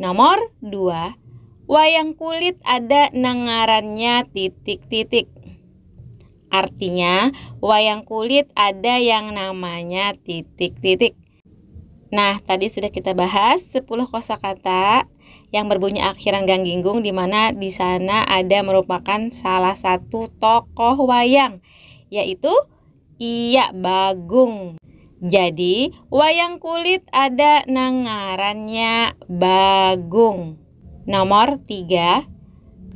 Nomor dua, wayang kulit ada nang ngarannya titik-titik. Artinya, wayang kulit ada yang namanya titik-titik. Nah, tadi sudah kita bahas 10 kosakata yang berbunyi akhiran gangginggung di mana di sana ada merupakan salah satu tokoh wayang yaitu Iya Bagung. Jadi, wayang kulit ada nang ngarannya Bagung. Nomor tiga,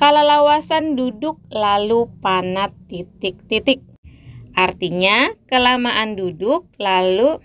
kalalawasan duduk lalu panat titik-titik. Artinya, kelamaan duduk lalu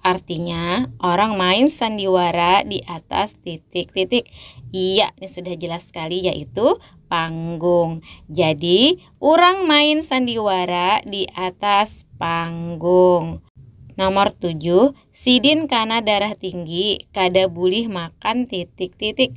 Artinya, orang main sandiwara di atas titik-titik. Iya, ini sudah jelas sekali yaitu panggung. Jadi, orang main sandiwara di atas panggung. Nomor 7, sidin kana darah tinggi, kada bulih makan titik-titik.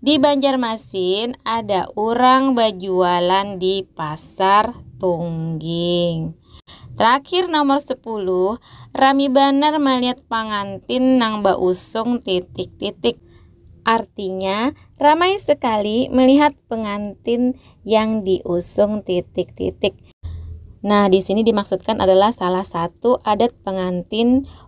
Di Banjarmasin ada urang bajualan di pasar tungging. Terakhir nomor 10, rami banar malihat pangantin nang bausung titik-titik. Artinya, ramai sekali melihat pengantin yang diusung titik-titik. Nah, di sini dimaksudkan adalah salah satu adat pengantin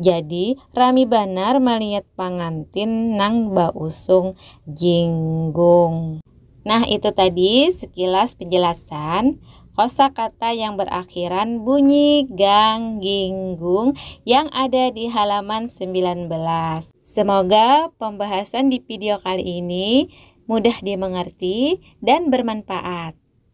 Jadi rami banar maliat pangantin nang bausung jinggung. Nah itu tadi sekilas penjelasan kosa kata yang berakhiran bunyi gang ginggung yang ada di halaman sembilan belas. Semoga pembahasan di pidio kali ini mudah dimengerti dan bermanpaat.